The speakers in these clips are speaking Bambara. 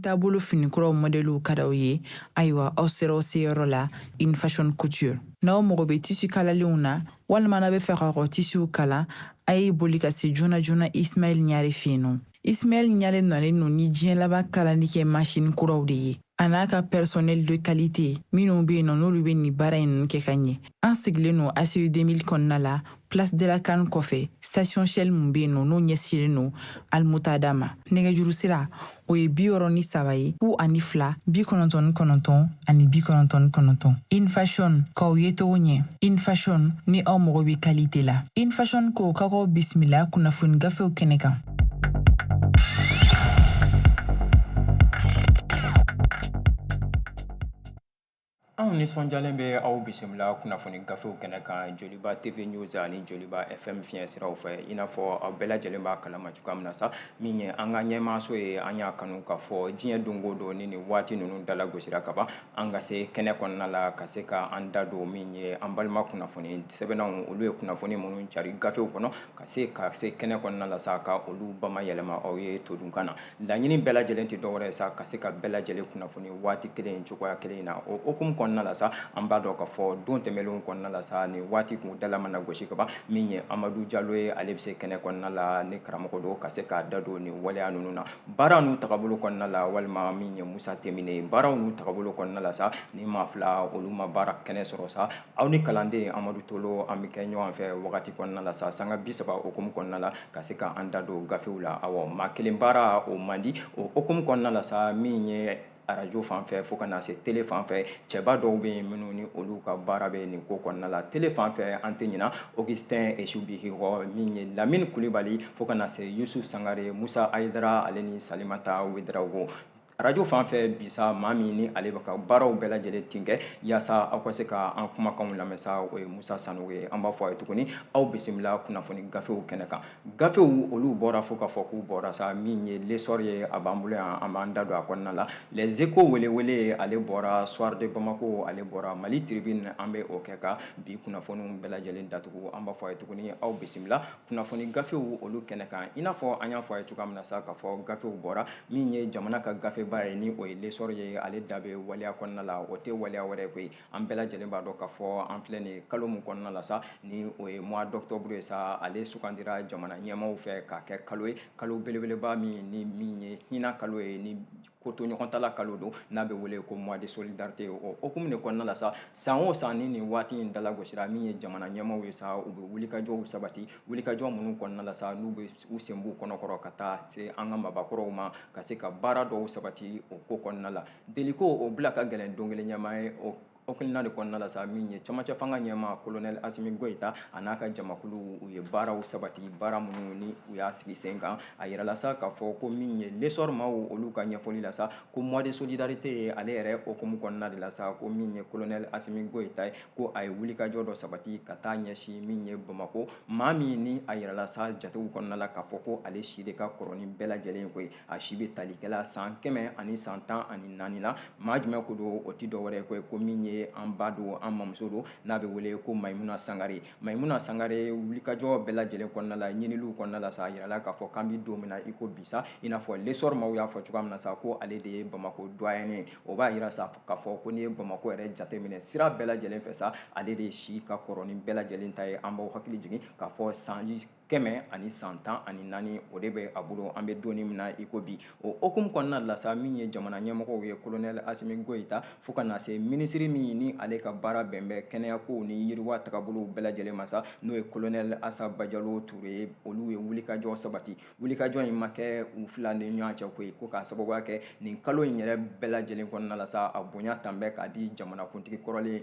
taabolo fini kuraw mɔdɛliw ka d'aw ye ayiwa aw sera aw seyɔrɔ la in fashion couture n'aw mago bɛ tisi kalalenw na walima n'a bɛ fɛ k'aw ka tisiw kala a ye boli ka se joona joona ismail ɲare fɛ yen nɔ Ismail Ɲare nalen no ni diɲɛ laban kalali kɛ masini kuraw de ye a n'a ka personnel de qualité minnu bɛ yen nɔ n'olu bɛ nin baara in ninnu kɛ ka ɲɛ an sigilen no ACI 2000 kɔnɔna la Place de la CAN kɔfɛ station Shell mun bɛ yen nɔ n'o ɲɛsinnen no Almutada ma nɛgɛjuru sira o ye bi wɔɔrɔ ni saba ye fu ani fila bi kɔnɔntɔn ni kɔnɔntɔn ani bi kɔnɔntɔn ni kɔnɔntɔn in fashion k'aw yecogo ɲɛ in fashion ni aw mago bɛ kalite la in fashion ko ka k'aw bisimila kunnafoni gafew kɛnɛ kan anw nisɔndiyalen bɛ aw bisimila kunnafoni gafew kɛnɛ kan joliba tv news ani joliba fm fiɲɛ siraw fɛ i n'a fɔ aw bɛɛ lajɛlen b'a kalama cogoya min na sa min ye an ka ɲɛmaaso ye an y'a kanu k'a fɔ diɲɛ don o don ni nin waati ninnu dala gosira ka ban an ka se kɛnɛ kɔnɔna la ka se ka an da don min ye an balima kunnafoni sɛbɛnnanw olu ye kunnafoni minnu cari gafew kɔnɔ ka se ka se kɛnɛ kɔnɔna la sa ka olu bamayɛlɛma aw ye todunkan na laɲini bɛɛ lajɛlen tɛ dɔwɛrɛ ye sa ka se ka bɛɛ lajɛlen kunnafoni waati kelen cogoya kelen na o hukumu kɔnɔna la sa an b'a dɔn k'a fɔ don tɛmɛnlenw kɔnɔna la sa ni waati kun dala mana gosi ka ban min ye amadu jalo ye ale bɛ se kɛnɛ kɔnɔna la ni karamɔgɔ don ka se k'a da don nin waleya ninnu na baara n'u tagabolo kɔnɔna la walima min ye musa temine ye baaraw n'u tagabolo kɔnɔna la sa ni maa fila olu ma baara kɛnɛ sɔrɔ sa aw ni kalanden amadu tolo an bɛ kɛ ɲɔgɔn fɛ wagati kɔnɔna la sa sanga bi saba hukumu kɔnɔna la ka se ka an da don gafew la awa maa kelen baara o man di o hukumu kɔnɔna la sa min ye arajo fan fɛ fo ka na se tele fan fɛ cɛba dɔw bɛ yen minnu ni olu ka baara bɛ nin ko kɔnɔna la tele fan fɛ an tɛ ɲina augustin esubihihɔ min ye lamini kulibali fo ka na se yusuf sangare musa ayidara ale ni salimata wedarawogo arajo fan fɛ bisa maa min ni ale bɛ ka baaraw bɛɛ lajɛlen tin kɛ yaasa aw ka se ka an kumakanw lamɛn sa o ye musa sanogo ye an b'a fɔ a ye tuguni aw bisimila kunnafoni gafew kɛnɛ kan gafew olu bɔra fo k'a fɔ k'u bɔra sa min ye l'essor ye a b'an bolo yan an b'an da don a kɔnɔna la les échos welewele ale bɔra soir de bamako ale bɔra mali tribune an bɛ o kɛ ka bi kunnafoniw bɛɛ lajɛlen datugu an b'a fɔ a ye tuguni aw bisimila kunnafoni gafew olu kɛnɛ kan i n'a fɔ an y'a fɔ a ye cogoya min na sa k'a fɔ gafew bɔra min ye jamana ka gafeba ye ni o ye l'essor ye ale da bɛ waleya kɔnɔna la o tɛ waleya wɛrɛ koyi an bɛɛ lajɛlen b'a dɔn k'a fɔ an filɛ nin kalo min kɔnɔna la sa ni o ye mois d'octobre ye sa ale sugandira jamana ɲɛmaaw fɛ k'a kɛ kalo ye kalo belebeleba min ni min ye hinɛ kalo ye ni ko to ɲɔgɔn tala kalo don n'a bɛ wele ko mois de solidarité o hukumu de kɔnɔna la sa san o san ni nin waati in dalagosira min ye jamana ɲɛmaaw ye sa u bɛ wulikajɔw sabati wulikajɔ minnu kɔnɔna la sa n'u bɛ u sen b'u kɔnɔkɔrɔ ka taa se an ka maabakɔrɔw ma ka se ka baara dɔw sabati o ko kɔnɔna la deliko o bila ka gɛlɛn don kelen ɲɛmaa ye o hakilina de kɔnɔna la sa min ye camancɛ fanga ɲɛmaa kolonɛli asimi goyita a n'a ka jamakulu u ye baaraw sabati baara minnu ni u y'a sigi sen kan a yirala sa k'a fɔ ko min ye l'essor maaw olu ka ɲɛfɔli la sa ko mois de solidarité ye ale yɛrɛ hukumu kɔnɔna de la sa ko min ye kolonɛli asimi goyita ye ko a ye wulikajɔ dɔ sabati ka taa ɲɛsin min ye bamako maa min ni a yirala sa jatew kɔnɔna la k'a fɔ ko ale si de ka kɔrɔ ni bɛɛ lajɛlen koyi a si bɛ talikɛla san kɛmɛ ani san tan ani naani la maa jumɛn ko don o tɛ dɔwɛrɛ ye koyi ko min ye an ba don an mamuso don n'a bɛ wele ko mayimuna sangare mayimuna sangare wulikajɔ bɛɛ lajɛlen kɔnɔna la ɲiniliw kɔnɔna la sa a yirala k'a fɔ k'an bɛ don min na i ko bi sa i n'a fɔ l'essor maaw y'a fɔ cogoya min na sa ko ale de ye bamako doyen ye o b'a yira sa k'a fɔ ko n'i ye bamako yɛrɛ jateminɛ sira bɛɛ lajɛlen fɛ sa ale de si ka kɔrɔ ni bɛɛ lajɛlen ta ye an b'aw hakili jigin k'a fɔ sanji kɛmɛ ani san tan ani naani o de bɛ a bolo an bɛ don nin min na i ko bi o hukumu kɔnɔna la sa min ye jamana ɲɛmɔgɔw ye kolonɛli asimi goyita fo ka na se minisiri min ni ale ka baara bɛn bɛ kɛnɛyakow ni yiriwa tagabolow bɛɛ lajɛlen ma sa n'o ye kolonɛli asa bajalo ture ye olu ye wulikajɔ sabati wulikajɔ in ma kɛ u fila ni ɲɔgɔn cɛ koyi ko k'a sababuya kɛ nin kalo in yɛrɛ bɛɛ lajɛlen kɔnɔna la sa a bonya tan bɛ k'a di jamanakuntigi kɔrɔlen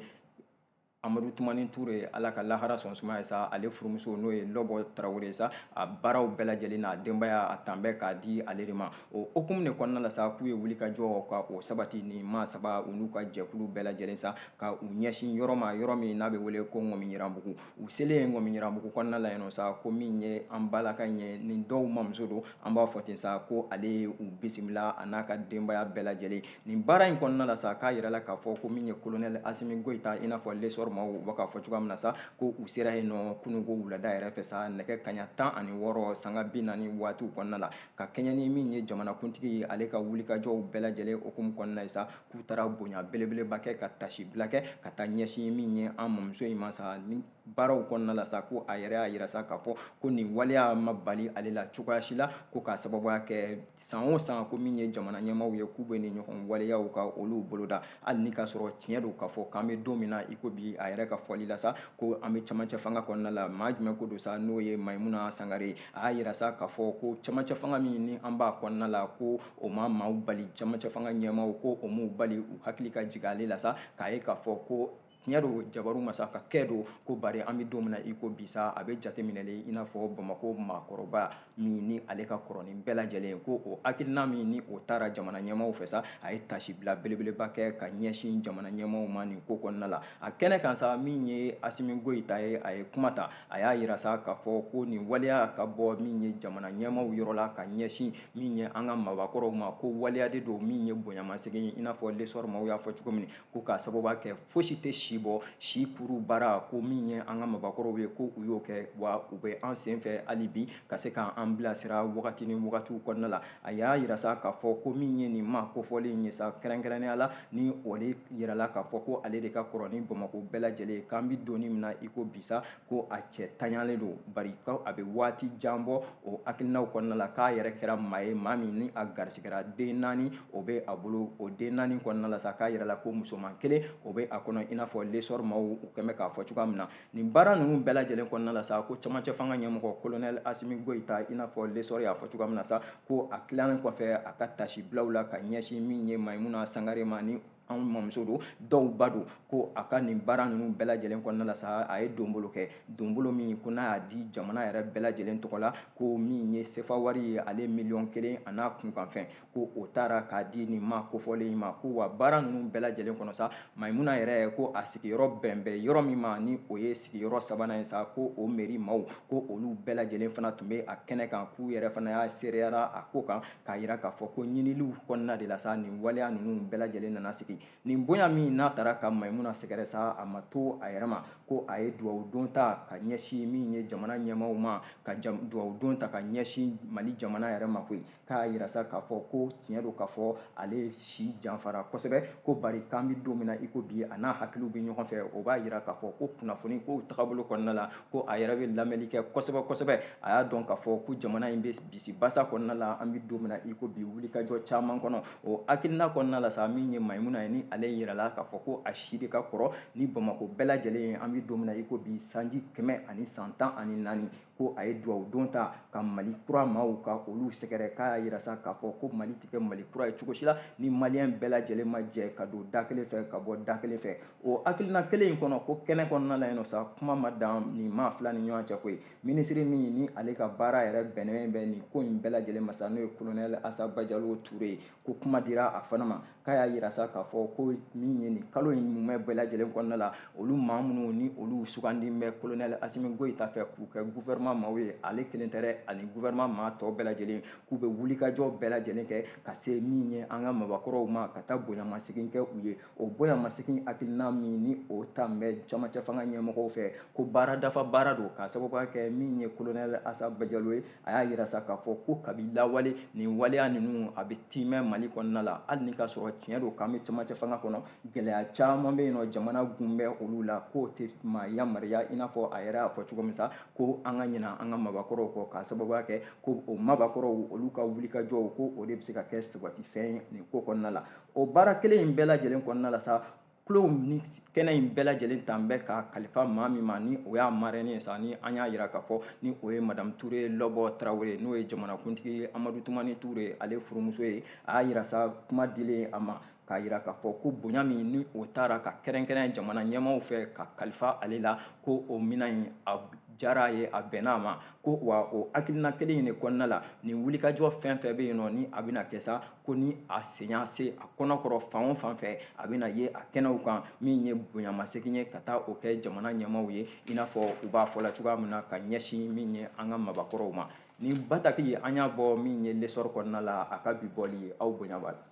amadu tumani ture ala ka lahara sɔn suma ye sa ale furumuso n'o ye lɔbɔ tarawele sa a baaraw bɛɛ lajɛlen n'a denbaya a tan bɛ k'a di ale de ma o hukumu de kɔnɔna la sa k'u ye wulikajɔ ka o sabati ni maa saba u n'u ka jɛkulu bɛɛ lajɛlen sa ka u ɲɛsin yɔrɔ ma yɔrɔ min n'a bɛ wele ko ŋɔmiyiranbugu u selen ŋɔmiyiranbugu kɔnɔna la yen sa ko min ye an balaka in ye ni dɔw mamuso don an b'a fɔ ten sa ko ale ye u bisimila a n'a ka denbaya bɛɛ lajɛlen nin baara in kɔnɔna la sa k'a yirala k'a fɔ ko min ye kolonɛli asimi goyita i n'a fɔ l'essor maaw u bɛ k'a fɔ cogoya min na sa ko u sera yen nɔ kunun ko wulada yɛrɛ fɛ sa nɛgɛ kaɲa tan ani wɔɔrɔ sanga bi naani waatiw kɔnɔna la ka kɛɲɛ ni min ye jamanakuntigi ye ale ka wulikajɔw bɛɛ lajɛlen hukumu kɔnɔna ye sa k'u taara bonya belebeleba kɛ ka tasibila kɛ ka taa ɲɛsin min ye an mamuso in ma sa ni baaraw kɔnɔna la sa ko a yɛrɛ y'a yira sa k'a fɔ ko nin waleya ma bali ale la cogoya si la ko k'a sababuya kɛ san o san ko min ye jamana ɲɛmaaw ye k'u bɛ nin ɲɔgɔn waleyaw ka olu boloda hali ni k'a sɔrɔ tiɲɛ don k'a fɔ k'an bɛ don min na i ko bi a yɛrɛ ka fɔli la sa ko an bɛ camancɛ fanga kɔnɔna la maa jumɛn ko don sa n'o ye mayimuna sangare ye a y'a yira sa k'a fɔ ko camancɛ fanga min ni an b'a kɔnɔna la ko o ma maaw bali camancɛ fanga ɲɛmaaw ko o m'u bali u hakili ka jigin ale la sa k'a ye k'a fɔ ko tiɲɛ don jabaru masa ka kɛ don ko bari an bɛ don min na i ko bisa a bɛ jateminɛlen i n'a fɔ bamakɔ maakɔrɔba min ni ale ka kɔrɔ ni bɛɛ lajɛlen ko o hakilina min ni o taara jamana ɲɛmaaw fɛ sa a ye tasibila belebeleba kɛ ka ɲɛsin jamana ɲɛmaaw ma nin ko kɔnɔna la a kɛnɛ kan sa min ye asimi goyita ye a ye kuma ta a y'a yira sa k'a fɔ ko nin waleya ka bɔ min ye jamana ɲɛmaaw yɔrɔ la ka ɲɛsin min ye an ka maabakɔrɔw ma ko waleya de don min ye bonyamasegin ye i n'a fɔ lesɔri maaw y'a fɔ cogo min ko k'a sababuya kɛ fosi tɛ si bɔ si kuru baara ko min ye an ka maabakɔrɔw ye ko u y'o kɛ wa u bɛ an sen fɛ hali bi ka se k'an bilasira wagati ni wagatiw kɔnɔna la a y'a yira sa k'a fɔ ko min ye nin ma kofɔlen in ye sa kɛrɛnkɛrɛnnenya la ni o de yirala k'a fɔ ko ale de ka kɔrɔ ni bamakɔ bɛɛ lajɛlen ye k'an bɛ don min na i ko bi sa ko a cɛ taɲalen don bari ko a bɛ waati jan bɔ o hakilinaw kɔnɔna la k'a yɛrɛ kɛra maa ye maa min ni a garisigɛra den naani o bɛ a bolo o den naani kɔnɔna la sa k'a yɛrɛ la ko musoman kelen o bɛ a kɔnɔ i n'a fɔ lesɔri maaw u kɛn bɛ k'a fɔ cogoya min na nin baara ninnu bɛɛ lajɛlen kɔnɔna la sa ko camancɛ fanga ɲɛmɔgɔ kolonɛli asimi goyita i n'a fɔ lesɔri y'a fɔ cogoya min na sa ko a tilalen kɔfɛ a ka tasibilaw la ka ɲɛsin min ye mayimuna sangare ma ni anw mamuso don dɔw ba don ko a ka nin baara ninnu bɛɛ lajɛlen kɔnɔna la sa a ye donbolo kɛ donbolo min ko n'a y'a di jamana yɛrɛ bɛɛ lajɛlen tɔgɔ la ko min ye sefa wari ye ale miliyɔn kelen a n'a kunkanfɛn ko o taara k'a di nin ma kofɔlen in ma ko wa baara ninnu bɛɛ lajɛlen kɔnɔ sa mayimuna yɛrɛ ko a sigiyɔrɔ bɛn bɛ yɔrɔ min ma ni o ye sigiyɔrɔ sabanan ye sa ko o meri maaw ko olu bɛɛ lajɛlen fana tun bɛ a kɛnɛ kan k'u yɛrɛ fana y'a seereyara a ko kan k'a yira k'a fɔ ko ɲiniliw kɔnɔna de la sa nin waleya ninnu bɛɛ lajɛlen nana sigi nin bonya min n'a taara ka mayimuna sɛgɛrɛ sa a ma to a yɛrɛ ma ko a ye duwawu don ta ka ɲɛsin min ye jamana ɲɛmaaw ma ka duwawu don ta ka ɲɛsin mali jamana yɛrɛ ma koyi k'a yira sa k'a fɔ ko tiɲɛ don k'a fɔ ale si janfara kosɛbɛ ko bari k'an bɛ don min na i ko bi a n'a hakiliw bɛ ɲɔgɔn fɛ o b'a yira k'a fɔ ko kunnafoni kow tagabolo kɔnɔna la ko a yɛrɛ bɛ lamɛnni kɛ kosɛbɛ kosɛbɛ a y'a dɔn k'a fɔ ko jamana in bɛ bisibasa kɔnɔna la an bɛ don min na i ko bi wulikajɔ caman kɔnɔ o hakilina kɔnɔna la sa min ye mayimuna ye ni ale yirala k'a fɔ ko a si de ka kɔrɔ ni bamakɔ bɛɛ lajɛlen ye an bɛ don min na i ko bi sanji kɛmɛ ani san tan ani naani ko a ye duwawu don ta ka mali kura maaw ka olu sɛgɛrɛ k'a y'a yira sa k'a fɔ ko mali tɛ kɛ mali kura ye cogo si la ni maliyɛn bɛɛ lajɛlen ma jɛ ka don da kelen fɛ ka bɔ da kelen fɛ o hakilina kelen in kɔnɔ ko kɛnɛ kɔnɔna la yen nɔ sa kuma ma dan nin maa fila ni ɲɔgɔn cɛ ko ye minisiri min ni ale ka baara yɛrɛ bɛnnen bɛ nin ko in bɛɛ lajɛlen ma sa n'o ye kolonɛli asa bajalo ture ye ko kuma dira a fana ma k'a y'a yira sa k'a fɔ ko min ye nin kalo in mumɛ bɛɛ lajɛlen kɔnɔna la olu maa minnu ni olu sugandi bɛ kolonɛli asimi goyita fɛ k'u kɛ gufɛrɛman maaw ye ale kelen tɛ dɛ ani gufɛrɛman maa tɔ bɛɛ lajɛlen k'u bɛ wulikajɔ bɛɛ lajɛlen kɛ ka se min ye an ka maabakɔrɔw ma ka taa bonyamasegin kɛ u ye o bonyamasegin hakilina min ni o tan bɛ camancɛfanga ɲɛmɔgɔw fɛ ko baara dafa baara don k'a sababuya kɛ min ye kolonɛli asa bajalo ye a y'a yira sa k'a fɔ ko kabi lawale nin waleya ninnu a bɛ tiimɛ mali kɔnɔna la hali ni ka sɔrɔ tiɲɛ don k'an bɛ camancɛfanga kɔnɔ gɛlɛya caman bɛ yen nɔ jamana gun bɛ olu la k'o tɛ maa yamaruya i n'a fɔ a yɛrɛ y'a fɔ cogo min sa ko an ka ɲina an ka maabakɔrɔw kɔ k'a sababuya kɛ ko o maabakɔrɔw olu ka wulikajɔw ko o de bɛ se ka kɛ sabatifɛn ye nin ko kɔnɔna la o baara kelen in bɛɛ lajɛlen kɔnɔna la sa kalo ni kɛnɛ in bɛɛ lajɛlen tan bɛ ka kalifa maa min ma ni o y'a marɛni ye sa ni an y'a yira k'a fɔ ni o ye madamu ture lɔbɔ tarawele n'o ye jamanakuntigi ye amadu tumani ture ale furumuso ye a y'a yira sa kuma dilen a ma k'a yira k'a fɔ ko bonya min ni o tara ka kɛrɛnkɛrɛn jamana ɲɛmaaw fɛ ka kalifa ale la ko o minan in a diyara a ye a bɛnna a ma ko wa o hakilina kelen in de kɔnɔna la nin wulikajɔ fɛn fɛn bɛ yen nɔ ni a bɛna kɛ sa ko ni a sen y'a se a kɔnɔ kɔrɔ fan o fan fɛ a bɛna ye a kɛnɛw kan min ye bonyamasegin ye ka taa o kɛ jamana ɲɛmaaw ye i n'a fɔ u b'a fɔla cogoya min na ka ɲɛsin min ye an ka maabakɔrɔw ma nin bataki an y'a bɔ min ye lesɔrɔ kɔnɔna la a ka bi bɔli ye aw bonya b'a la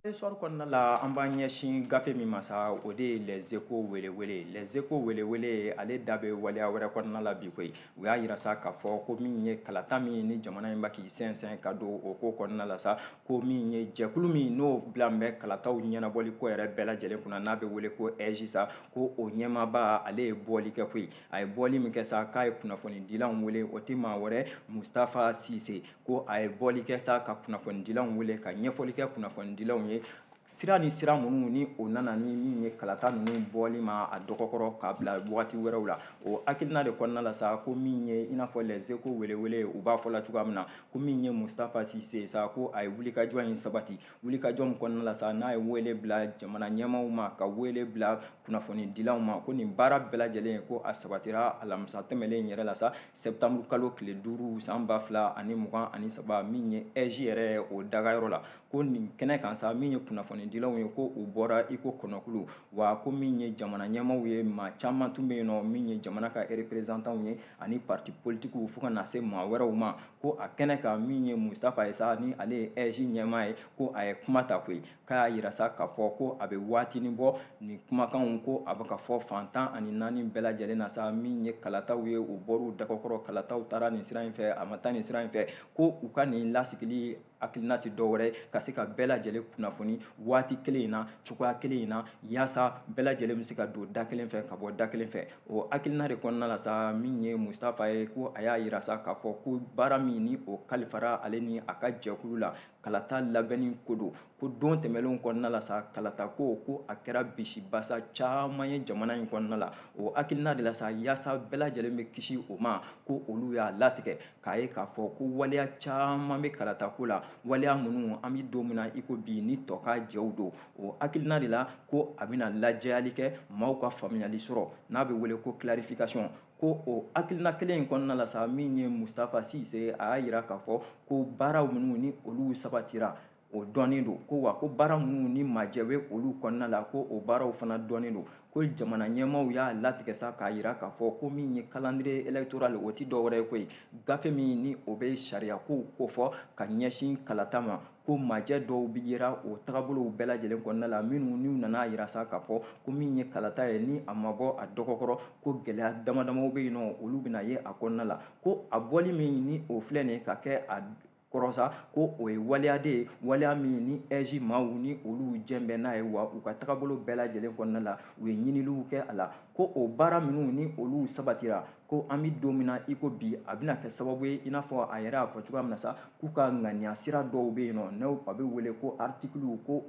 lesɔrɔ kɔnɔna la an b'an ɲɛsin gafe min ma sa o de ye les échos welewele les échos welewele ale da bɛ waleya wɛrɛ kɔnɔna la bi koyi u y'a yira sa k'a fɔ ko min ye kalata min ni jamana in b'a k'i sɛnsɛn ka don o ko kɔnɔna la sa ko min ye jɛkulu min n'o bila bɛ kalataw ɲɛnabɔli ko yɛrɛ bɛɛ lajɛlen kunna n'a bɛ wele ko ɛzi sa ko o ɲɛmaaba ale ye bɔli kɛ koyi a ye bɔli min kɛ sa k'a ye kunnafonidilaw wele o tɛ maa wɛrɛ mustafa sise ko a ye bɔli kɛ sa ka kunnafonidilaw wele ka ɲɛfɔli kɛ kunnafonidilaw ye sira ni sira minnu ni o nana ni min ye kalata ninnu bɔli ma a dɔgɔkɔrɔ k'a bila wagati wɛrɛw la o hakilina de kɔnɔna la sa ko min ye i n'a fɔ les échos welewele u b'a fɔ la cogoya min na ko min ye mustafa sise ye sa ko a ye wulikajɔ in sabati wulikajɔ min kɔnɔna la sa n'a ye wele bila jamana ɲɛmaaw ma ka wele bila kunnafonidilaw ma ko nin baara bɛɛ lajɛlen ko a sabatira alamisa tɛmɛlen yɛrɛ la sa sɛptanburukalo tile duuru san ba fila ani mugan ani saba min ye ɛzi yɛrɛ o dagayɔrɔ la ko nin kɛnɛ kan sa min ye kunnafonidilaw ye ko u bɔra iko kɔnɔkulu wa ko min ye jamana ɲɛmaaw ye maa caman tun bɛ yen nɔ min ye jamana ka reperezantanw ye ani parti politikiw fo ka na se maa wɛrɛw ma ko a kɛnɛ kan min ye mustafa ye sa ni ale ye ɛji ɲɛmaa ye ko a ye kuma ta koyi k'a y'a yira sa k'a fɔ ko a bɛ waatinin bɔ nin kumakanw ko a bɛ ka fɔ fan tan ani naani bɛɛ lajɛlen na sa min ye kalataw ye u bɔr'u dɔgɔkɔrɔ kalataw taara nin sira in fɛ a ma taa nin sira in fɛ ko u ka nin lasigili hakilina tɛ dɔwɛrɛ ka se ka bɛɛ lajɛlen kunnafoni waati kelen in na cogoya kelen in na yaasa bɛɛ lajɛlen bɛ se ka don da kelen fɛ ka bɔ da kelen fɛ o hakilina de kɔnɔna la sa min ye mustafa ye ko a y'a yira sa k'a fɔ ko baara min ni o kalifara ale ni a ka jɛkulu la kalata labɛnni ko don ko don tɛmɛnlenw kɔnɔna la sa kalatako ko a kɛra bisibasa caman ye jamana in kɔnɔna la o hakilina de la sa yaasa bɛɛ lajɛlen bɛ kisi o ma ko olu y'a latigɛ k'a ye k'a fɔ ko waleya caman bɛ kalatako la waleya minnu an bɛ don min na i ko bi ni tɔkajɛw don o hakilina de la ko a bɛna lajɛyali kɛ maaw ka faamuyali sɔrɔ n'a bɛ wele ko clarification ko o hakilina kelen in kɔnɔna la sa min ye mustafa sise a y'a yira k'a fɔ ko baaraw minnu ni olu sabatira o dɔnnen don ko wa ko baara minnu ni majɛ bɛ olu kɔnɔna la ko o baaraw fana dɔnnen don ko jamana ɲɛmaaw y'a latigɛ sa k'a yira k'a fɔ ko min ye calendrier électoral o tɛ dɔwɛrɛ ye koyi gafe min ni o bɛ sariyakow kofɔ ka ɲɛsin kalata ma ko majɛ dɔw bɛ yera o tagabolow bɛɛ lajɛlen kɔnɔna la minnu n'u nana yira sa k'a fɔ ko min ye kalata ye ni a ma bɔ a dɔgɔkɔrɔ ko gɛlɛya damadamaw bɛ yen nɔ olu bɛna ye a kɔnɔna la ko a bɔli min ni o filɛ nin ye ka kɛ a kɔrɔ sa ko o ye waleya de ye waleya min ni ɛji maaw ni olu jɛn bɛ n'a ye wa u ka tagabolo bɛɛ lajɛlen kɔnɔna la u ye ɲiniliw kɛ a la ko o baara minnu ni olu sabatira ko an bɛ don min na i ko bi a bɛna kɛ sababu ye i n'a fɔ a yɛrɛ y'a fɔ cogoya min na sa k'u ka ŋaniya sira dɔw bɛ yen nɔ n'o a bɛ wele ko artikiliw ko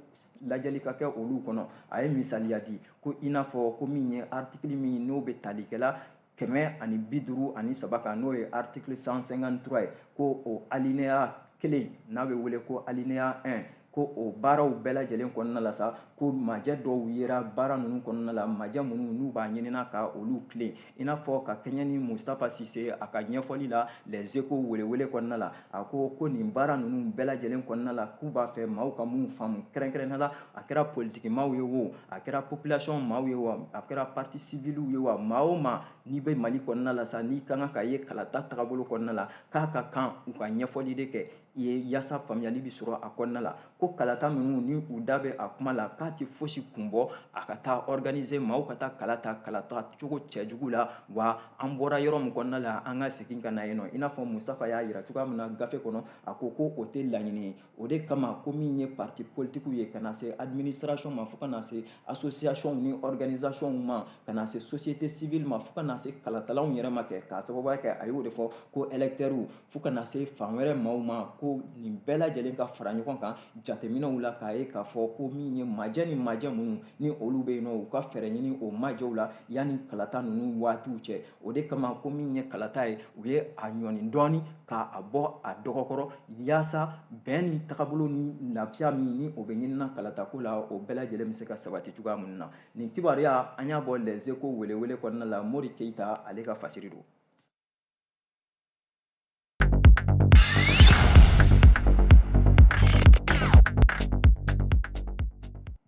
lajɛli ka kɛ olu kɔnɔ a ye misaliya di ko i n'a fɔ ko min ye artikili min n'o bɛ tali kɛla kɛmɛ ani bi duuru ani saba kan n'o ye article 153 ye ko o alineya kelen n'a bɛ wele ko alinéa 1 ko o baaraw bɛɛ lajɛlen kɔnɔna la sa ko majɛ dɔw yera baara ninnu kɔnɔna la majɛ minnu n'u b'a ɲinina ka olu tilen i n'a fɔ ka kɛɲɛ ni mustafa sise a ka ɲɛfɔli la les échos welewele kɔnɔna la a ko ko nin baara ninnu bɛɛ lajɛlen kɔnɔna la k'u b'a fɛ maaw ka minnu faamu kɛrɛnkɛrɛnnenya la a kɛra politiki maaw ye wo a kɛra population maaw ye wo a kɛra parti civiliw ye wo maa o maa n'i bɛ mali kɔnɔna la sa n'i ka kan ka ye kalata tagabolo kɔnɔna la k'a ka kan u ka ɲɛfɔli de kɛ i ye yaasa faamuyali bɛ sɔrɔ a kɔnɔna la ko kalata ninnu ni u da bɛ a kuma la k'a tɛ fosi kun bɔ a ka taa organiser maaw ka taa kala ta kalata cogo cɛjugu la wa an bɔra yɔrɔ min kɔnɔna la an ka segin ka na yen nɔ i n'a fɔ mustafa y'a yira cogoya min na gafe kɔnɔ a ko ko o tɛ laɲini ye o de kama ko min ye parti politikiw ye ka na se administration ma fo ka na se association ni organisation ma ka na se société civile ma fo ka na se kalatalaw yɛrɛ ma kɛ k'a sababuya kɛ a y'o de fɔ ko électeurs fo ka na se fan wɛrɛ maaw ma ko nin bɛɛ lajɛlen ka fara ɲɔgɔn kan jateminɛw la k'a ye k'a fɔ ko min ye majɛ ni majɛ minnu ni olu bɛ yen nɔ u ka fɛɛrɛ ɲini o majɛw la yanni kalata ninnu waatiw cɛ o de kama ko min ye kalata ye u ye a ɲɔni dɔɔni k'a bɔ a dɔgɔkɔrɔ yaasa bɛn ni tagabolo ni lafiya min ni o bɛ ɲinina kalatako la o bɛɛ lajɛlen bɛ se ka sabati cogoya minnu na nin kibaruya an y'a bɔ les echos welewele kɔnɔna la mori keyita ale ka fasiri don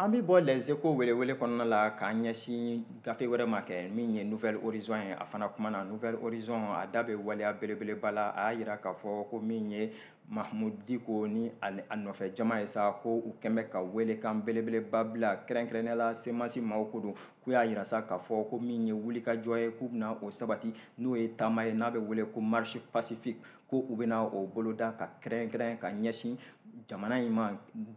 an bɛ bɔ les echos welewele kɔnɔna la k'an ɲɛsin gafe wɛrɛ ma kɛ min ye nouvelle horizon ye a fana kumana nouvelle horizon a da bɛ waleya belebeleba la a y'a yira k'a fɔ ko min ye mahamudu diko ni a nɔfɛ jama ye sa ko u kɛn bɛ ka welekan belebeleba bila kɛrɛnkɛrɛnnenya la semasi maaw ko don k'u y'a yira sa k'a fɔ ko min ye wulikajɔ ye k'u bɛna o sabati n'o ye taama ye n'a bɛ wele ko marche pacifique ko u bɛna o boloda ka kɛrɛnkɛrɛn ka ɲɛsin jamana in ma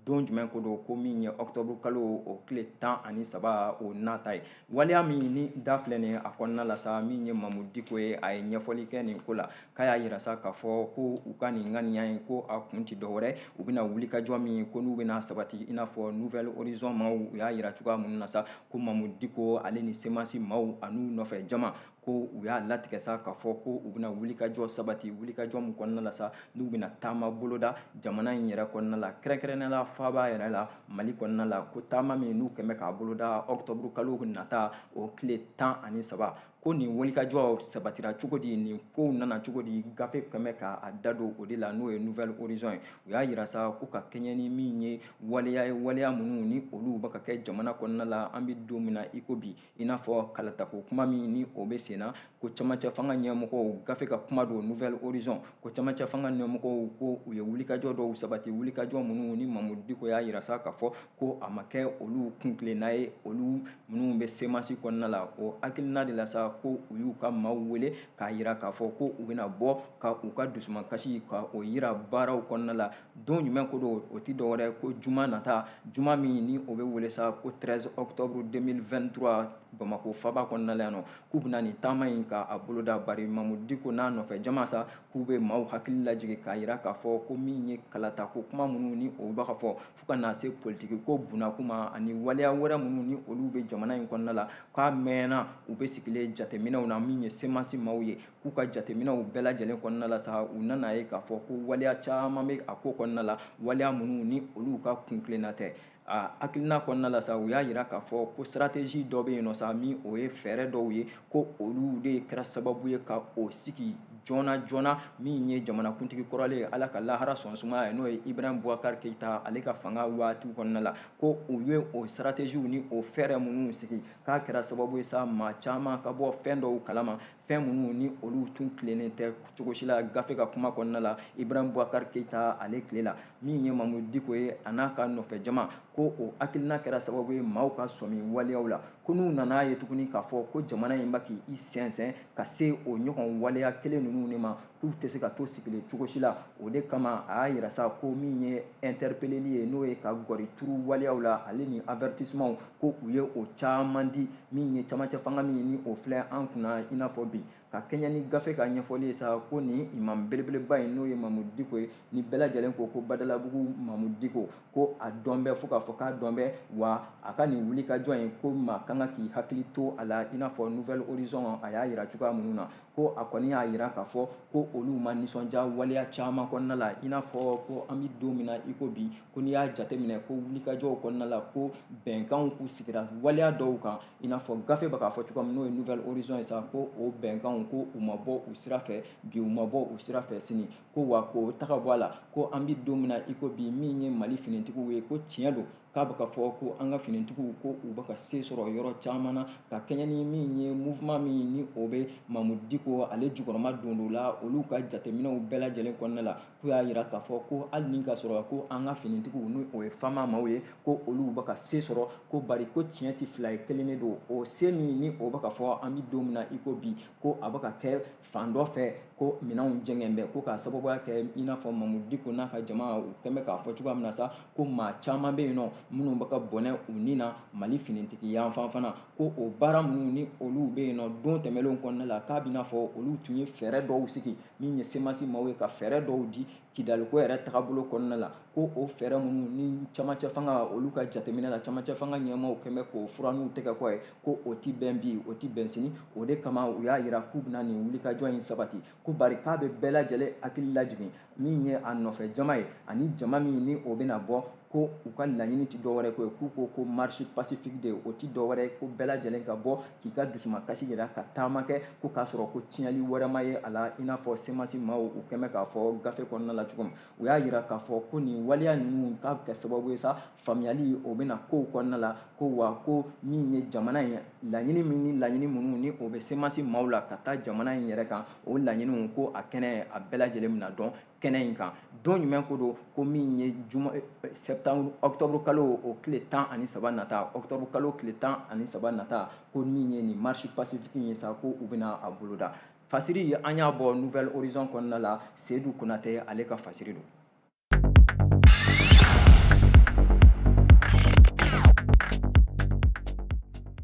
don jumɛn ko don ko min ye octobre kalo o tile tan ani saba o nata ye waleya min ni da filɛ nin ye a kɔnɔna la sa min ye mamudu diko ye a ye ɲɛfɔli kɛ nin ko la k'a y'a yira sa k'a fɔ ko u ka nin ŋaniya in ko a kun tɛ dɔwɛrɛ u bɛna wulikajɔ min ko n'u bɛna sabati i n'a fɔ nouvelle horizon maaw u y'a yira cogoya minnu na sa ko mamudu diko ale ni semasi maaw an'u nɔfɛ jama ko u y'a latigɛ sa k'a fɔ ko u bɛna wulikajɔ sabati wulikajɔ min kɔnɔna la sa n'u bɛna taama boloda jamana in yɛrɛ kɔnɔna la kɛrɛnkɛrɛnnenya la faaba yɛrɛ la mali kɔnɔna la ko taama min n'u kɛn bɛ k'a boloda ɔkutɔburu kalo nata o tile tan ani saba ko nin wulikajɔ sabatira cogo di nin kow nana cogo di gafe kɛn bɛ k'a da don o de la n'o ye nouvelle horizon ye u y'a yira sa ko ka kɛɲɛ ni min ye waleya ye waleya minnu ni olu bɛ ka kɛ jamana kɔnɔna la an bɛ don min na i ko bi i n'a fɔ kalatako kuma min ni o bɛ sen na ko camancɛ fanga ɲɛmɔgɔw gafe ka kuma don nouvelle horizon ko camancɛ fanga ɲɛmɔgɔw ko u ye wulikajɔ dɔw sabati wulikajɔ minnu ni mamudu diko y'a yira sa k'a fɔ ko a ma kɛ olu kuntilenna ye olu minnu bɛ semasi kɔnɔna la o hakilina de la sa ko u y'u ka maaw wele k'a yira k'a fɔ ko u bɛna bɔ ka u ka dusumakasi ka o yira baaraw kɔnɔna la don jumɛn ko don o tɛ dɔwɛrɛ ko juma nata juma min ni o bɛ wele sa ko 13 octobre 2023 bamako faba kɔnɔna la yan nɔ k'u bɛna nin taama in ka a boloda bari mamudu diko n'a nɔfɛ jama sa k'u bɛ maaw hakili lajigin k'a yira k'a fɔ ko min ye kalatako kuma minnu ni o bɛ ka fɔ fo ka na se politiki ko bunakuma ani waleya wɛrɛ minnu ni olu bɛ jamana in kɔnɔna la k'a mɛnna u bɛ sigilen jateminɛw na min ye semasi maaw ye k'u ka jateminɛw bɛɛ lajɛlen kɔnɔna la sa u nan'a ye k'a fɔ ko waleya caman bɛ a ko kɔnɔna la waleya minnu ni olu ka kuntilenna tɛ a hakilina kɔnɔna la sa u y'a yira k'a fɔ ko stratégie dɔ bɛ yen nɔ sa min o ye fɛɛrɛ dɔw ye ko olu de kɛra sababu ye ka o sigi joona joona min ye jamanakuntigi kɔrɔlen ye ala ka lahara sɔn sumaya ye n'o ye ibrahim boubacar keyita ale ka fanga waati kɔnɔna la ko u ye o stratégiew ni o fɛɛrɛ minnu sigi k'a kɛra sababu ye sa maa caman ka bɔ fɛn dɔw kalama fɛn minnu ni olu tun tilennen tɛ cogo si la gafe ka kuma kɔnɔna la ibrahim boubacar keyita ale tile la min ye mamudu diko ye a n'a ka nɔfɛ jama ko o hakilina kɛra sababu ye maaw ka sɔmi waleyaw la ko n'u nan'a ye tuguni k'a fɔ ko jamana in bɛ k'i sɛnsɛn ka se o ɲɔgɔn waleya kelen ninnu de ma k'u tɛ se ka to sigilen cogo si la o de kama a y'a yira sa ko min ye ɛntɛrepeleli ye n'o ye ka gɔri turu waleyaw la ale ni avɛritisemanw ko u ye o caman di min ye camancɛ fanga min ni o filɛ an kunna i n'a fɔ bi ka kɛɲɛ ni gafe ka ɲɛfɔli ye sa ko nin imam belebeleba in n'o ye mamudu diko ye ni bɛɛ lajɛlen ko ko badalabugu mamudu diko ko a dɔn bɛ fo k'a fɔ k'a dɔn bɛ wa a ka nin wulikajɔ in ko maa kan ka k'i hakili to a la i n'a fɔ nouvel horizon a y'a yira cogoya minnu na ko a kɔni y'a yira k'a fɔ ko olu ma nisɔndiya waleya caman kɔnɔna la i n'a fɔ ko an bɛ don min na i ko bi ko n'i y'a jateminɛ ko wulikajɔw kɔnɔna la ko bɛnkanw k'u sigira waleya dɔw kan i n'a fɔ gafe bɛ k'a fɔ cogoya min n'o ye nouvel horizon ye sa ko o bɛnkanw ko u ma bɔ u sira fɛ bi u ma bɔ u sira fɛ sini ko wa k'o tɛ ka bɔ a la ko an bɛ don min na i ko bi min ye mali finitigiw ye ko tiɲɛ don k'a bɛ ka fɔ ko an ka finitigiw ko u bɛ ka se sɔrɔ yɔrɔ caman na ka kɛɲɛ ni min ye mouvement min ni o bɛ mamudu diko ale jukɔrɔmadondon la olu ka jateminɛw bɛɛ lajɛlen kɔnɔna la k'u y'a yira k'a fɔ ko hali ni ka sɔrɔ ko an ka finitigiw ni o ye fama maaw ye ko olu bɛ ka se sɔrɔ ko bari ko tiɲɛ tɛ fila ye kelen de don o se min ni o bɛ ka fɔ an bɛ don min na i ko bi ko a bɛ ka kɛ fan dɔ fɛ ko minɛnw jɛngɛn bɛ ko k'a sababuya kɛ i n'a fɔ mamudu diko n'a ka jama u kɛn bɛ k'a fɔ cogoya min na sa ko maa caman bɛ yen nɔ minnu bɛ ka bɔnɛ u ni na mali finitigi yanfan fana ko o baara minnu ni olu bɛ yen nɔ don tɛmɛnlenw kɔnɔna la k'a b'i n'a fɔ olu tun ye fɛɛrɛ dɔw sigi min ye semasi maaw ye ka fɛɛrɛ dɔw di kidaliko yɛrɛ tagabolo kɔnɔna la ko o fɛɛrɛ minnu ni camancɛ fanga olu ka jateminɛ la camancɛ fanga ɲɛmaaw kɛn bɛ k'o furan n'u tɛgɛ kɔ ye ko o tɛ bɛn bi o tɛ bɛn sini o de kama u y'a yira k'u bɛna nin wulikajɔ in sabati ko bari k'a bɛ bɛɛ lajɛlen hakili lajigin min ye a nɔfɛ jama ye ani jama min ni o bɛna bɔ ko u ka laɲini tɛ dɔwɛrɛ ko ye k'u ko ko marche pacifique de o tɛ dɔwɛrɛ ko bɛɛ lajɛlen ka bɔ k'i ka dusumakasi yira ka taama kɛ ko k'a sɔrɔ ko tiɲɛli wɛrɛ ma ye a la i n'a fɔ semasi maaw u kɛn bɛ k'a fɔ gafe kɔnɔna la cogo min u y'a yira k'a fɔ ko nin waleya ninnu k'a bɛ kɛ sababu ye sa faamuyali o bɛna kow kɔnɔna la ko wa ko min ye jamana in laɲini min ni laɲini minnu ni o bɛ semasi maaw la ka taa jamana in yɛrɛ kan o laɲiniw ko a kɛnɛ a bɛɛ lajɛlen bɛna dɔn kɛnɛ in kan don jumɛn ko don ko min ye juma eh, eh, septembre octobre kalo o tile tan ani saba nata octobre kalo tile tan ani saba nata ko min ye nin marche pacifique ye sa ko u bɛna a boloda fasiri an y'a bɔ nouvel horizon kɔnɔna la sedu konate ale ka fasiri don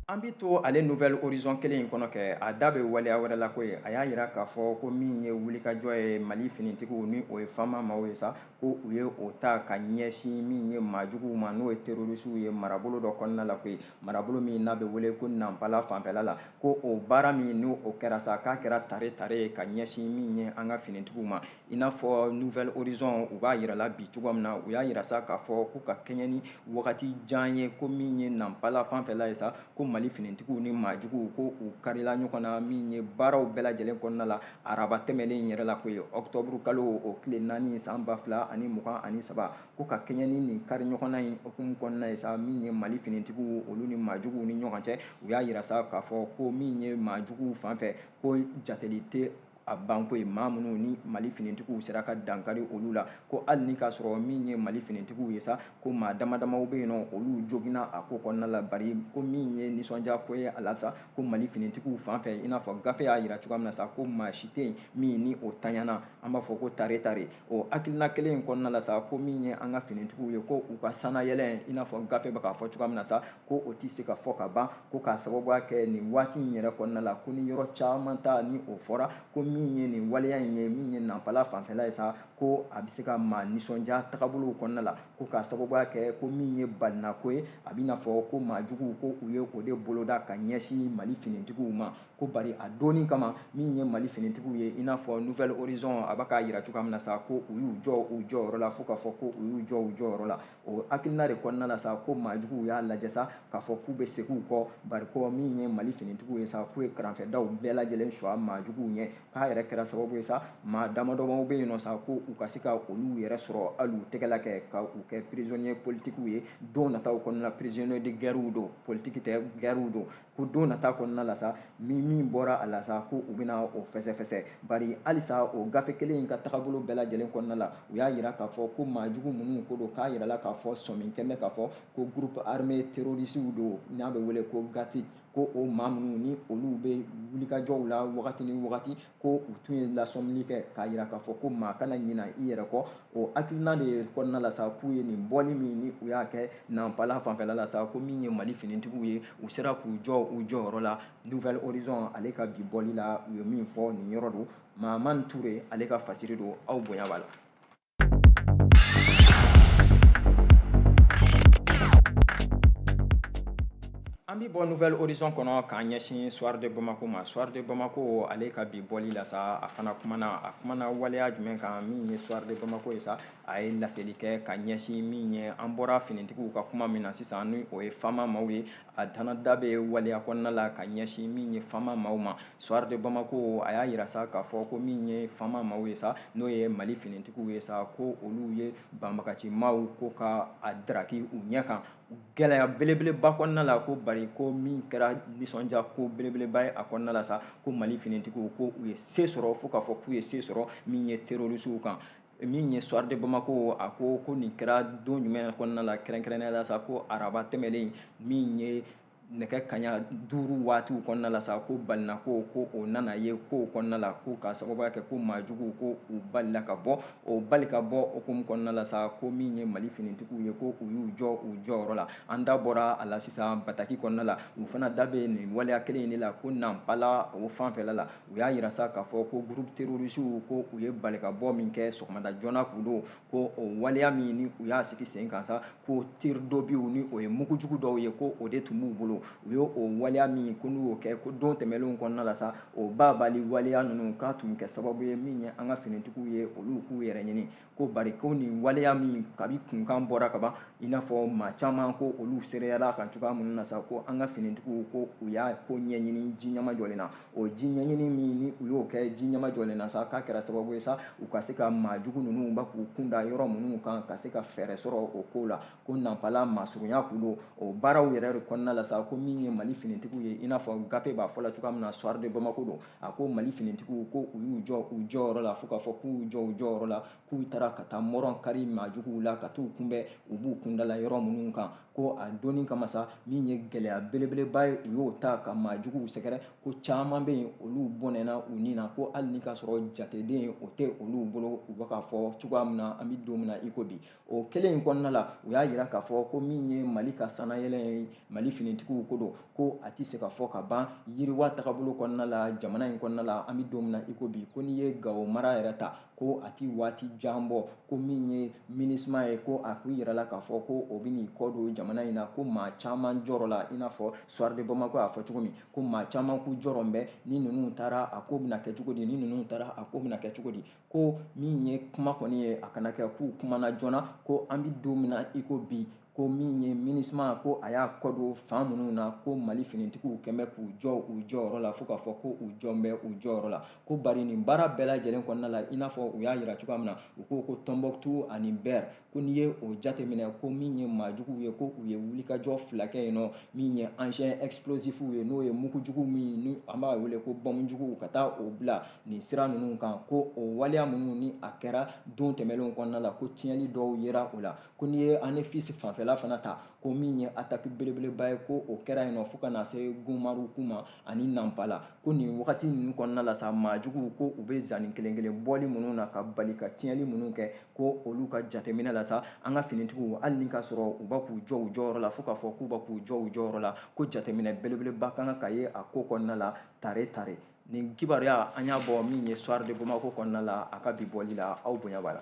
an bɛ to ale nouvel horizon kelen in kɔnɔ kɛ a da bɛ waleya wɛrɛ la koyi a y'a yira k'a fɔ ko min ye wulikajɔ ye mali finitigiw ni o ye fama maaw ye sa ko u ye o ta ka ɲɛsin min ye maajuguw ma n'o ye terorisiw ye marabolo dɔ kɔnɔna la koyi marabolo min n'a bɛ wele ko nanpala fanfɛla la ko o baara min ni o kɛra sa k'a kɛra tare tare ye ka ɲɛsin min ye an ka finitigiw ma i n'a fɔ nouvel horizon u b'a yirala bi cogoya min na u y'a yira sa k'a fɔ ko ka kɛɲɛ ni wagati jan ye ko min ye nanpala fanfɛla ye sa ko mali finitigiw ni maajuguw ko u karila ɲɔgɔn na min ye baaraw bɛɛ lajɛlen kɔnɔna la araba tɛmɛlen yɛrɛ la koyi ɔktɔburu kalo o tile naani san ba fila ani mugan ani saba ko ka kɛɲɛ ni nin kari ɲɔgɔnna in hukumu kɔnɔna ye sa min ye mali finitigiw olu ni maajuguw ni ɲɔgɔn cɛ u y'a yira sa k'a fɔ ko min ye maajuguw fan fɛ ko jateli tɛ a banko ye maa minnu ni mali finitigiw sera ka dankari olu la ko hali ni k'a sɔrɔ min ye mali finitigiw ye sa ko maa dama damaw bɛ yen n'olu joginna a ko kɔnɔna la bari ko min ye nisɔndiya ko ye a la sa ko mali finitigiw fan fɛ i n'a fɔ gafe y'a yira cogoya min na sa ko maa si tɛ yen min ni o tanyana an b'a fɔ ko tare tare o hakilina kelen in kɔnɔna la sa ko min ye an ka finitigiw ye ko u ka sanayɛlɛ i n'a fɔ gafe bɛ k'a fɔ cogoya min na sa ko o tɛ se ka fɔ ka ban ko k'a sababuya kɛ nin waati in yɛrɛ kɔnɔna la ko ni yɔrɔ caman ta ni o fɔra ko min ye nin waleya in ye min ye nanpala fanfɛla ye sa ko a bɛ se ka maa nisɔndiya tagabolow kɔnɔna la ko k'a sababuya kɛ ko min ye balinako ye a bɛ i n'a fɔ ko maajuguw ko u ye o de boloda ka ɲɛsin mali finitigiw ma ko bari a dɔnni kama min ye mali finitigiw ye i n'a fɔ nouvel horizon a bɛ k'a yira cogoya min na sa ko u y'u jɔ u jɔyɔrɔ la fo k'a fɔ ko u y'u jɔ u jɔyɔrɔ la o hakilina de kɔnɔna la sa ko maajuguw y'a lajɛ sa k'a fɔ k'u bɛ segin u kɔ bari ko min ye mali finitigiw ye sa k'u ye karanfɛdaw bɛɛ lajɛlen suwa maajuguw ɲɛ k'a yɛrɛ kɛra sababu ye sa maa damadɔmaw bɛ yen nɔ sa ko u ka se ka olu yɛrɛ sɔrɔ hali u tɛgɛla kɛ ka u kɛ prisonnier politikiw ye don nataw kɔnɔna la prisonnier de guerrew don politiki tɛ guerrew don ko don nata kɔnɔna la sa ni min bɔra a la sa ko u bɛna o fɛsɛfɛsɛ bari halisa o gafe kelen in ka tagabolo bɛɛ lajɛlen kɔnɔna la u y'a yira k'a fɔ ko maa jugu minnu ko don k'a yirala k'a fɔ sɔmin kɛmɛ k'a fɔ ko groupe armé terrorisiw don n'a bɛ wele ko gati ko o maa minnu ni olu bɛ wulikajɔw la wagati ni wagati ko u tun ye lasɔmini kɛ k'a yira k'a fɔ ko maa kana ɲina i yɛrɛ kɔ o hakilina de kɔnɔna la sa k'u ye nin bɔli min ni u y'a kɛ nanpala fanfɛla la sa ko min ye mali finitigiw ye u sera k'u jɔ u jɔyɔrɔ la nouvel horizon ale ka bi bɔli la u ye min fɔ nin yɔrɔ don maman ture ale ka fasiri don aw bonya b'a la An bɛ bɔ Nouvel Horizon kɔnɔ k'an ɲɛsin Soir de Bamako ma, Soir de Bamako ale ka bi bɔli la sa, a fana kumana, a kumana waleya jumɛn kan min ye Soir de Bamako ye sa, a ye laseli kɛ ka ɲɛsin min ye, an bɔra finitigiw ka kuma min na sisan ni o ye Fama maaw ye. a fana da bɛ waleya kɔnɔna la ka ɲɛsin min ye fama maaw ma soir de bamako a y'a yira sa k'a fɔ ko min ye fama maaw ye sa n'o ye mali finitigiw ye sa ko olu ye banbagaci maaw ko ka a daraki u ɲɛ kan gɛlɛya belebeleba kɔnɔna la ko bari ko min kɛra nisɔndiya ko belebeleba ye a kɔnɔna la sa ko mali finitigiw ko u ye se sɔrɔ fo k'a fɔ k'u ye se sɔrɔ min ye terorisiw kan min ye soir de Bamako a ko ko nin kɛra don jumɛn kɔnɔna la kɛrɛnkɛrɛnnenya la sa ko araba tɛmɛlen min ye nɛgɛ kaɲa duuru waatiw kɔnɔna la sa ko balinako ko o nana ye kow kɔnɔna la ko k'a sababuya kɛ ko maa juguw ko u balila ka bɔ o bali ka bɔ hukumu kɔnɔna la sa ko min ye mali finitigiw ye ko u y'u jɔ u jɔyɔrɔ la an da bɔra a la sisan bataki kɔnɔna la u fana da bɛ nin waleya kelen in de la ko nanpala o fanfɛla la u y'a yira sa k'a fɔ ko groupe terrorisiw ko u ye balikabɔ min kɛ sɔgɔmada joona k'u don ko o waleya min ni u y'a sigi sen kan sa ko tir d'obusw ni o ye mugu jugu dɔw ye ko o de tun b'u bolo u ye o waleya min ko n'u y'o kɛ ko don tɛmɛnlenw kɔnɔna la sa o babali waleya ninnu k'a tun kɛ sababu ye min ye an ka finitigiw ye olu k'u yɛrɛ ɲini ko bari ko nin waleya min kabi kunkan bɔra kaban i n'a fɔ maa caman ko olu seereyala kan cogoya minnu na sa ko an ka finitigiw ko u y'a ko ɲɛɲini ji ɲama jɔlen na o ji ɲɛɲini min ni u y'o kɛ ji ɲama jɔlen na sa k'a kɛra sababu ye sa u ka se ka maa jugu ninnu ba k'u kun da yɔrɔ minnu kan ka se ka fɛɛrɛ sɔrɔ o ko la ko nanpala masurunya k'u don o baaraw yɛrɛ de kɔnɔna la sa ko min ye mali finitigiw ye i n'a fɔ gafe b'a fɔ la cogoya min na soir de bamako don a ko mali finitigiw ko u y'u jɔ u jɔyɔrɔ la fo k'a fɔ k'u jɔ u jɔyɔrɔ la k'u taara ka taa mɔrɔn kari maajuguw la ka t'u kunbɛn u b'u kundala yɔrɔ minnu kan ko a doni kama sa min ye gɛlɛya belebeleba ye u y'o ta ka maajuguw sɛgɛrɛ ko caman bɛ yen olu bɔnɛna u ni na ko hali ni k'a sɔrɔ jateden o tɛ olu bolo u bɛ k'a fɔ cogoya min na an bɛ don min na i ko bi o kelen in kɔnɔna la u y'a yira k'a fɔ ko min ye mali ka sanayɛlɛ ye mali finitigiw ko don ko a tɛ se ka fɔ ka ban yiriwa tagabolo kɔnɔna la jamana in kɔnɔna la an bɛ don min na i ko bi ko n'i ye gawo mara yɛrɛ ta ko a ti waati jan bɔ ko min ye minusma ye ko a ko yirala k'a fɔ ko o bɛ n'i kɔ don jamana in na ko maa caman jɔrɔ la i n'a fɔ soir de bamako y'a fɔ cogo min ko maa caman k'u jɔrɔ bɛ ni ninnu taara a ko bɛna kɛ cogo di ni ninnu taara a ko bɛna kɛ cogo di ko min ye kuma kɔni ye a kana kɛ k'u kumana joona ko an bɛ don min na i ko bi ko min ye minusma ko a y'a kɔ don fan minnu na ko mali finitigiw kɛn bɛ k'u jɔ u jɔyɔrɔ la fo k'a fɔ ko u jɔn bɛ u jɔyɔrɔ la ko bari nin baara bɛɛ lajɛlen kɔnɔna la i n'a fɔ u y'a yira cogoya min na u ko ko tɔnbɔkutu ani bɛri ko n'i ye o jateminɛ ko min ye maajuguw ye ko u ye wulikajɔ fila kɛ yen nɔ min ye engin explosifw ye n'o ye mugujugu min ni an b'a wele ko bɔmujuguw ka taa o bila nin sira ninnu kan ko o waleya minnu ni a kɛra don tɛmɛnlenw kɔnɔna la ko tiɲɛni dɔw yera o la ko n'i ye anefisi fanfɛla fana ta ko min ye ataki belebeleba ye ko o kɛra yen nɔ fo ka na se gunmaruku ma ani nanpala ko nin wagati ninnu kɔnɔna la sa maajuguw ko u bɛ zanni kelen kelen bɔli minnu na ka bali ka tiɲɛni minnu kɛ ko olu ka jateminɛ la sa an ka finitigiw hali ni k'a sɔrɔ u b'a k'u jɔ u jɔyɔrɔ la fo k'a fɔ k'u b'a k'u jɔ u jɔyɔrɔ la ko jateminɛ belebeleba ka kan ka ye a ko kɔnɔna la tare tare nin kibaruya an y'a bɔ min ye soir de bamako kɔnɔna la a ka bi bɔli la aw bonya b'a la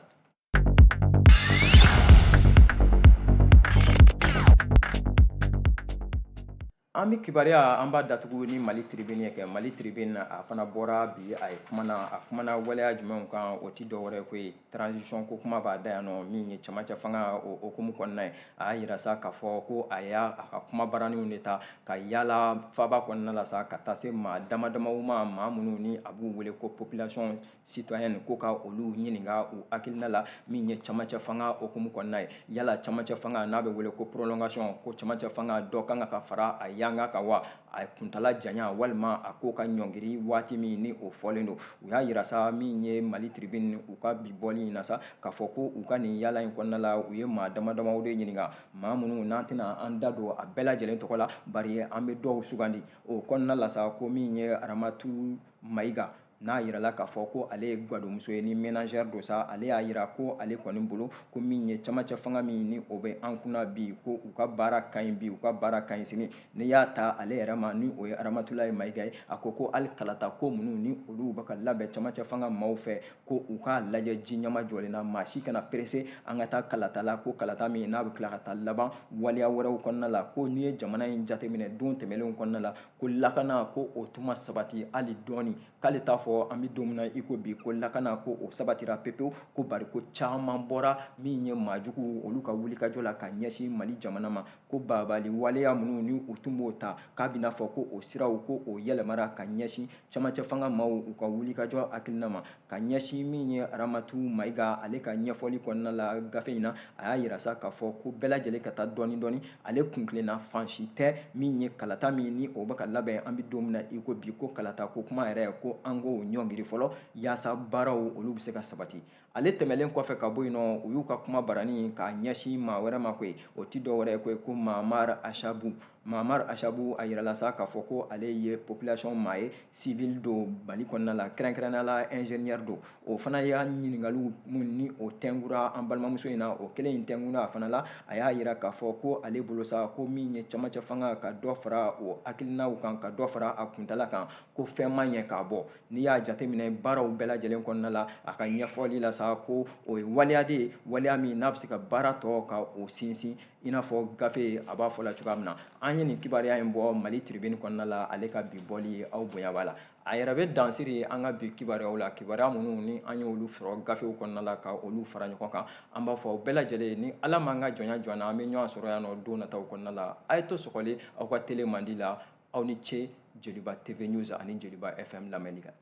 an bɛ kibaruya an b'a datugu ni mali tribune ye kɛ mali tribune a fana bɔra bi a ye kumana a kumana waleya jumɛnw kan o ti dɔ wɛrɛ ko ye transition ko kuma b'a da yan nɔ min ye cɛmancɛ fanga o hukumu kɔnɔna ye a y'a yira sa k'a fɔ ko a y'a ka kumabaraniw de ta ka yaala faaba kɔnɔna la sa ka taa se maa dama damaw ma maa minnu ni a b'u wele ko population citoyen ko ka olu ɲininka u hakilina la min ye camancɛ fanga hukumu kɔnɔna ye yala camancɛ fanga n'a bɛ wele ko prolongation ko camancɛ fanga dɔ kan ka fara a yanga kan wa a kuntala janya walima a ko ka ɲɔngiri waati min ni o fɔlen don u y'a yira sa min ye mali tribune u ka bi bɔli in na sa k'a fɔ ko u ka nin yaala in kɔnɔna la u ye maa dama damaw de ɲininka maa minnu n'an tɛna an da don a bɛɛ lajɛlen tɔgɔ la bari an bɛ dɔw sugandi o kɔnɔna la sa ko min ye aramatu mayiga n'a yirala k'a fɔ ko ale ye gadonmuso ye ni ménagère don sa ale y'a yira ko ale kɔni bolo ko min ye camancɛ fanga min ni o bɛ an kunna bi ko u ka baara ka ɲi bi u ka baara ka ɲi sini n'i y'a ta ale yɛrɛ ma ni o ye aramatulayi mayiga ye a ko ko hali kalata ko minnu ni olu bɛ ka labɛn camancɛ fanga maaw fɛ ko u k'a lajɛ ji ɲɛmajɔlen na maa si kana perese an ka taa kalata la ko kalata min n'a bɛ tila ka taa laban waleya wɛrɛw kɔnɔna la ko n'i ye jamana in jateminɛ don tɛmɛnlenw kɔnɔna la ko lakana ko o tun ma sabati hali dɔɔni k'ale t'a fɔ an bɛ don min na i ko bi ko lakana ko o sabatira pepewu ko bari ko caman bɔra min ye maa juguw olu ka wulikajɔ la ka ɲɛsin mali jamana ma ko baabaali waleya minnu ni u tun b'o ta k'a bɛna fɔ ko o siraw ko o yɛlɛmara ka ɲɛsin camancɛ fanga maaw u ka wulikajɔ hakilina ma ka ɲɛsin min ye aramatu mayiga ale ka ɲɛfɔli kɔnɔna la gafe in na a y'a yira sa k'a fɔ ko bɛɛ lajɛlen ka taa dɔɔni dɔɔni ale kuntilenna fan si tɛ min ye kalata min ni o bɛ ka labɛn an bɛ don min na i ko bi ko kalata ko kuma yɛrɛ ko an k'o ɲɔngiri fɔlɔ yaasa baaraw olu bɛ se ka sabati ale tɛmɛlen kɔfɛ ka bɔ yen nɔ u y'u ka kuma barani k'a ɲɛsin maa wɛrɛ ma koyi o tɛ dɔ wɛrɛ ye koyi ko mamar asabu mamar asabu a yirala sa k'a fɔ ko ale ye population maa ye civil don mali kɔnɔna la kɛrɛnkɛrɛnnenya la ingénieur don o fana y'a ɲininkaliw minnu ni o tɛnkura an balimamuso in na o kelen in tɛnkura a fana la a y'a yira k'a fɔ ko ale bolo sa ko min ye camancɛ fanga ka dɔ fara o hakilinaw kan ka dɔ fara a kuntala kan ko fɛn ma ɲɛ k'a bɔ n'i y'a jateminɛ baaraw bɛɛ lajɛlen kɔnɔna la a ka ɲɛfɔli la sa ko o ye waleya de ye waleya min n'a bɛ se ka baara tɔ ka o sinsin i n'a fɔ gafe a b'a fɔ la cogoya min na an ye nin kibaruya in bɔ mali tribune kɔnɔna la ale ka bi bɔli aw bonya b'a la a yɛrɛ bɛ dan siri an ka bi kibaruyaw la kibaruya minnu ni an y'olu sɔrɔ gafew kɔnɔna la ka olu fara ɲɔgɔn kan an b'a fɔ aw bɛɛ lajɛlen ni ala m'an ka jɔnya jɔ an na an bɛ ɲɔgɔn sɔrɔ yan nɔ don nataw kɔnɔna la a ye to sɔgɔlen aw ka tele mandi la aw ni ce joliba tv news ani joliba fm lamɛnni kan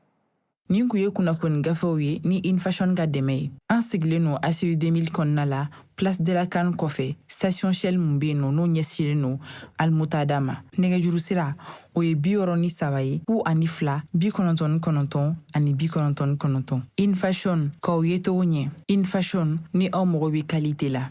Nin kun ye kunnafoni gafew ye ni in fashion ka dɛmɛ ye an sigilen no aci 2000 kɔnɔna la place de la can kɔfɛ station shell mun be yen nɔ n'o ɲɛsilen no almutada ma nɛgɛjuru sira o ye bi wɔɔrɔ ni saba ye fu ani fila bi kɔnɔntɔn ni kɔnɔntɔn ani bi kɔnɔntɔn ni kɔnɔntɔn in fashion k'aw yecogo ɲɛ in fashion ni aw mago be qualité la